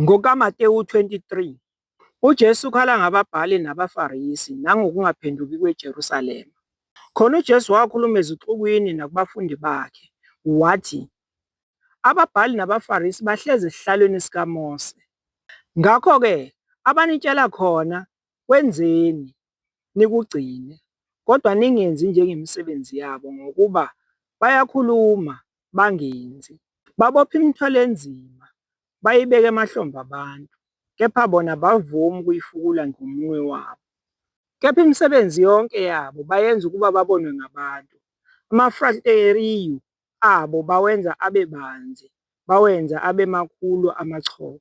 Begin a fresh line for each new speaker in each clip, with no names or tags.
NgokaMatewu 23, uJesu ukhala ngababhali nabaFarisi nangokungaphenduki kweJerusalema. Khona uJesu wakhuluma ezixukwini nakubafundi bakhe, wathi, Ababhali nabaFarisi bahlezi esihlalweni sikaMose. Ngakho-ke abanitshela khona Kwenzeni, nikugcine, kodwa ningenzi njengemisebenzi yabo, ngokuba bayakhuluma, bangenzi. Babopha imithwalo enzima, bayibeka emahlombe abantu, kepha bona abavumi ukuyifukula ngomunwe wabo. Kepha imisebenzi yonke yabo bayenza ukuba babonwe ngabantu. Amafrasteriyu abo bawenza abe banzi, bawenza abe makhulu amachopho.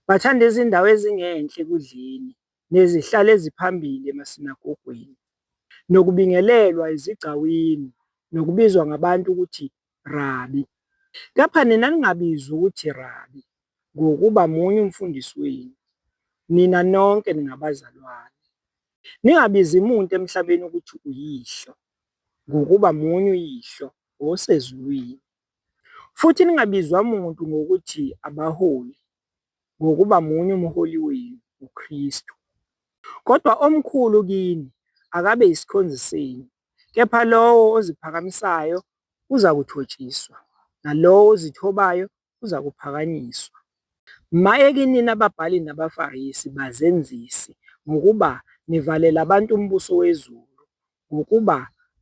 Bathanda izindawo ezingenhla ekudleni, nezihlalo eziphambili emasinagogweni, nokubingelelwa ezigcawini, nokubizwa ngabantu ukuthi Rabi. Kepha nina ningabizwa ukuthi Rabi, ngokuba munye uMfundisi wenu, nina nonke ningabazalwane. Ningabizi muntu emhlabeni ukuthi uyihlo, ngokuba munye uYihlo osezulwini, futhi ningabizwa muntu ngokuthi abaholi, ngokuba munye umholi wenu, uKristu. Kodwa omkhulu kini akabe yisikhonzi senu, kepha lowo oziphakamisayo uzakuthotshiswa, nalowo ozithobayo uzakuphakanyiswa. Maye kinina babhali nabaFarisi, bazenzisi, ngokuba nivalela abantu umbuso wezulu, ngokuba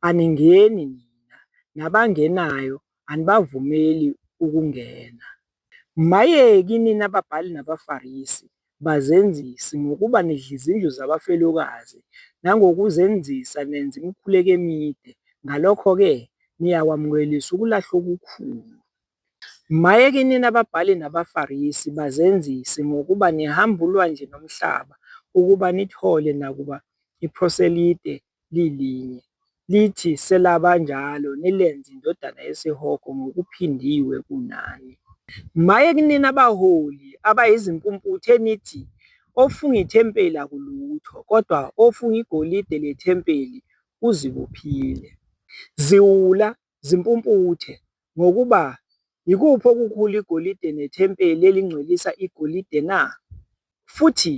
aningeni nina, nabangenayo anibavumeli ukungena. Mayeki nina babhali nabaFarisi, bazenzisi, ngokuba nidla izindlu zabafelokazi, nangokuzenzisa nenza imikhuleko emide, ngalokho-ke niyakwamukelisa ukulahlwa okukhulu. Maye kinina babhali nabaFarisi, bazenzisi, ngokuba nihamba ulwandle nomhlaba, ukuba nithole nakuba iproselite lilinye, lithi selaba njalo, nilenze indodana yesihogo ngokuphindiwe kunani. Maye kinina baholi, abayizimpumputhe, enithi, Ofunga ithempeli akulutho, kodwa ofunga igolide lethempeli uzibophile. Ziwula, zimpumputhe, ngokuba, Yikuphi okukhulu, igolide nethempeli elingcwelisa igolide na? Futhi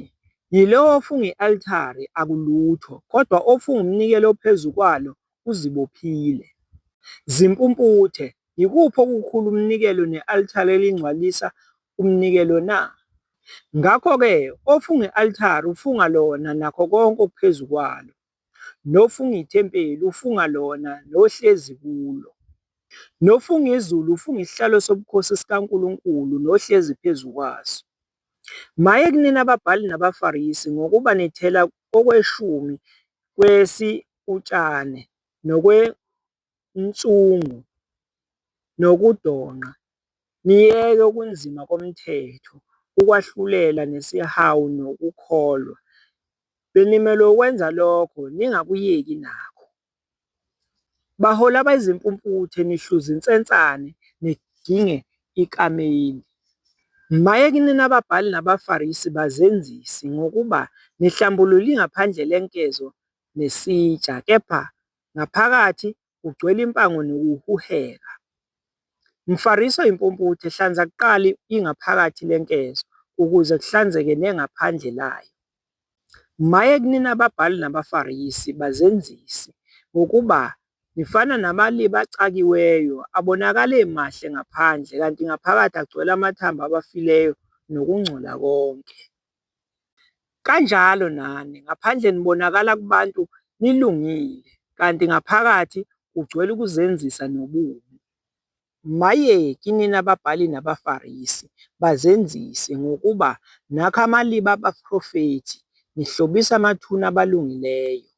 yilowo ofunga i-altare akulutho, kodwa ofunga umnikelo ophezu kwalo uzibophile. Zimpumputhe, yikuphi okukhulu, umnikelo ne-altare elingcwalisa umnikelo na? Ngakho-ke ofunga i-altare ufunga lona nakho konke okuphezu kwalo. Nofunga ithempeli ufunga lona nohlezi kulo. Nofunga izulu ufunga isihlalo sobukhosi sikaNkulunkulu nohlezi phezu kwaso. Maye kunina ababhali nabaFarisi, ngokuba nithela okweshumi kwesi utshane nokwe inhlungu nokudonqa, niyeke ukunzima komthetho, ukwahlulela nesihawu nokukholwa. Benimelwe ukwenza lokho, ningakuyeki nakho. Baholi abayizimpumputhe, nihluza insensane, nidinge ikameli. Maye kinina babhali nabaFarisi bazenzisi, ngokuba nihlambulula ingaphandle lenkezo nesitsha, kepha Ngaphakathi kugcwele impango nokuhuheka. Mfariso impumputhe, hlanza kuqala ingaphakathi lenkezo ukuze kuhlanzeke nengaphandle layo. Maye kunina ababhali nabaFarisi, bazenzisi, ngokuba nifana namali bacakiweyo, abonakala emahle ngaphandle, kanti ngaphakathi agcwele amathambo abafileyo nokungcola konke. Kanjalo nani, ngaphandle nibonakala kubantu nilungile, kanti ngaphakathi kugcwele ukuzenzisa nobubi. Maye kinina babhali nabaFarisi, bazenzisi, ngokuba nakha amaliba abaprofethi, nihlobisa amathuna abalungileyo.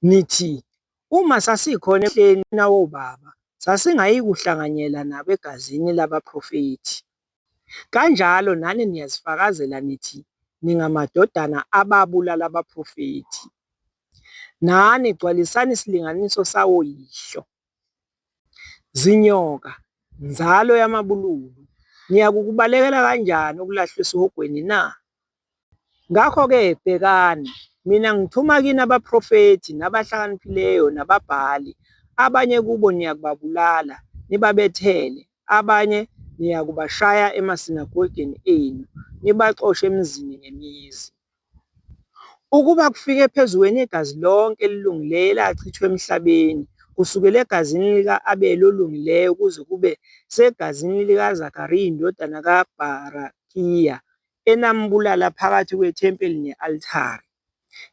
Nithi, Uma sasikhona eMthethweni wobaba, sasingayikuhlanganyela nabo egazini labaprofethi. Kanjalo nani niyazifakazela nithi ningamadodana ababulala abaprofethi. Nani gcwalisani isilinganiso sawoyihlo. Zinyoka, nzalo yamabululu, niyakukubalekela kanjani ukulahlwa esihogweni na? Ngakho-ke bhekani, mina ngithuma kini abaprofethi, nabahlakaniphileyo, nababhali, abanye kubo niyakubabulala, nibabethele, abanye niyakubashaya emasinagogeni enu, nibaxoshe emizini ngemizi. Ukuba kufike phezu kwenu igazi lonke elilungileyo elachithwa emhlabeni, kusukela egazini lika-Abele olungileyo kuze kube segazini likaZakariya indodana kaBharakiya, enambulala phakathi kwethempeli ne-altare.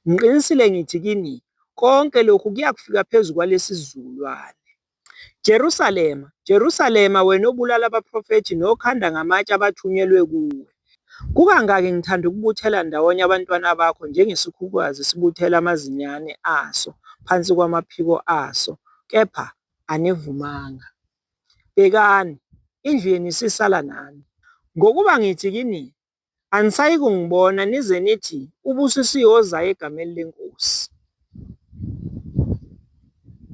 Ngiqinisile ngithi kini, konke lokhu kuyakufika phezu kwalesizukulwane. Jerusalema, Jerusalema, wena obulala abaprofethi nokhanda ngamatshe abathunyelwe kuwe! Kukangaki ngithanda ukubuthela ndawonye abantwana bakho njengesikhukukazi sibuthela amazinyane aso phansi kwamaphiko aso, kepha anivumanga. Bhekani, indlu yenu isisala nami. Ngokuba ngithi kini, anisayikungibona nize nithi, Ubusisiwe ozayo egameni leNkosi.